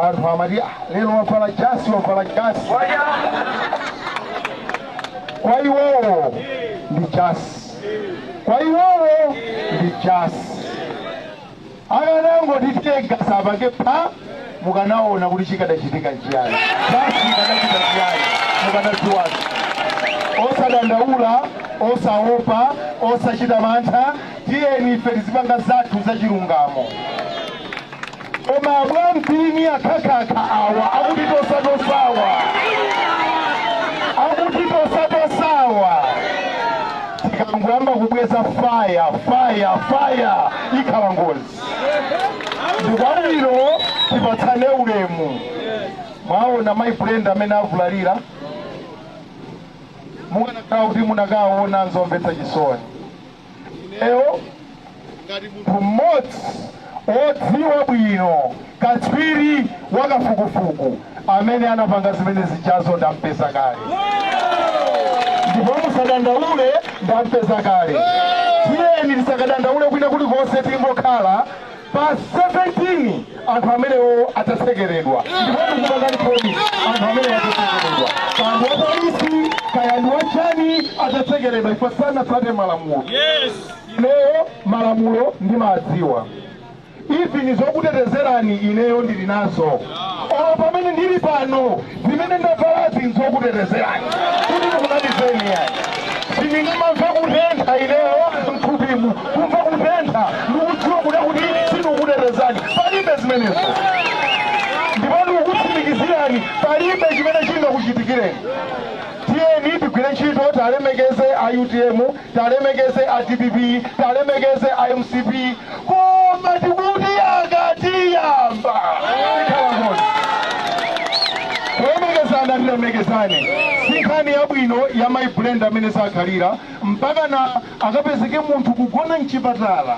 anthu amati lero wavala jasi wavala jasi kwa iwowo ndi jasi kwa iwowo ndi jasi akanangoti tegasa apange pha mukanaona kuti chikadachitika chiyani jasi ikadachita chiyani mukadadziwa osadandaula osaopa osachita mantha tiyeni ife tizipanga zathu zachilungamo koma abwampini akhakhakha awa akutitosatosawa akutitosatosawa tikangoyamba kubweza fire fire fire ikhala ngozi ndikwabwino tipatsane ulemu mwaona mayi brenda amene avulalira mukanakhala kuti munakaona nzomvetsa chisoni ineyo ngati munthu mmodzi wodziwa bwino katswiri wa kafukufuku amene anapanga zimene zijazo ndampeza kale ndipo musadandaule ndampeza kale tiyeni tisakadandaule kwina kulikonse tingokhala pa 17 anthu amenewo adzatsekeredwa ndipo ndikupangani promise anthu amenewo adzatsekeredwa kaya ndi wapolisi kaya ndi wachani adzatsekeredwa ife sanatsate malamulo ineyo malamulo ndimadziwa even zokutetezerani ineyo ndili nazo olo pamene ndili pano zimene ndavalazi nzokutetezerani kuti ndikunamizeni yani sindingamamve kutentha ineyo mthupimu kumva kutentha ndikudziwa kuda kuti sindikukutetezani palibe zimenezo ndipo ndikukutsimikizirani palibe chimene chingakuchitikireni tiyeni tigwire ntchito talemekeze a utm talemekeze a dpp talemekeze a mcp koma tikuti akatiyamba tikhala ngozi kulemekezana tilemekezane si nkhani yabwino ya mayi brenda amene sakhalira mpakana akapezeke munthu kugona mchipatala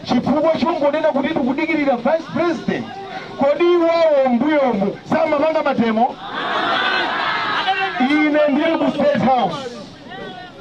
chifukwa chongonena kuti tikudikirira vice president kodi iwowo mbuyomu samapanga mademo ine ndili ku state house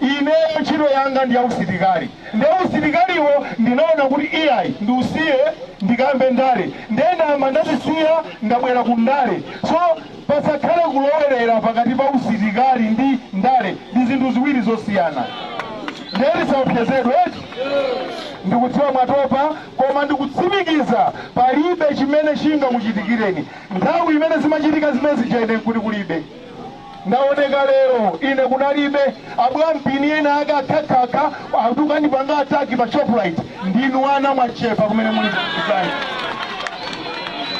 ineyo ntchito yanga ndi yausilikali nde usilikaliwo ndinaona kuti iyayi ndiusiye ndikayambe ndale nde ndayamba ndazisiya ndabwera ku ndale so pasakhale kulowerera pakati pa usilikali ndi ndale ndi zinthu ziwiri zosiyana nde musaopsezedwe eti ndikudziwa mwatopa koma ndikutsimikiza palibe chimene chingakuchitikireni nthawi imene zimachitika zimene zija ine nkuti kulibe Ndaoneka lero ine kunalibe, abwampini enaake akhakhakha akukandipanga attack pa shoprite ndinu ana mwachepa kumene muli kuzani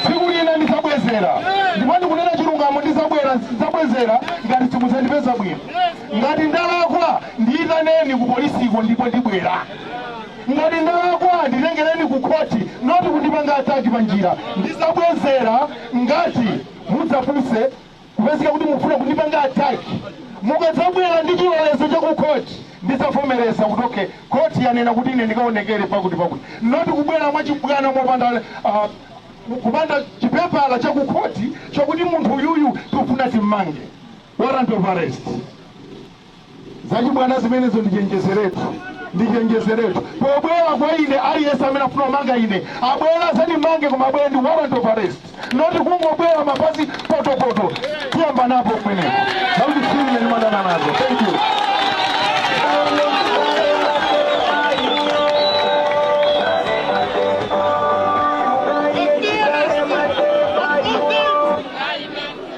tsiku lina ndizabwezera ndipo ndikunena chilungamo ndizabwera ndizabwezera ngati simudzandipeza bwino ngati ndalakwa ndiyitaneni ku polisiko ndipo ndibwera ngati ndalakwa nditengereni ku khoti noti kundipanga ataki pa njira ndizabwezera ngati mudzapuse kupezeka kuti mukufuna kundipanga attack mukadzabwera ndi chilolezo cha ku court ndidzavomereza kuti okay court yanena kuti ine ndikaonekere pakuti pakuti noti kubwera mwachibwana mopanda ah, kupanda chipepala cha ku court chokuti munthu uyuyu tikufuna timmange warrant of arrest Zachibwana zimenezo ndichenjezeretu ndichenjezeretu pobwera kwa ine aliyense amene afuna kumanga ine abwere azandimange koma abwere ndi warrant of arrest noti kungobwera mapazi potopoto tiyamba napo pomwepo zautsiru ine ndimadana nazo thank you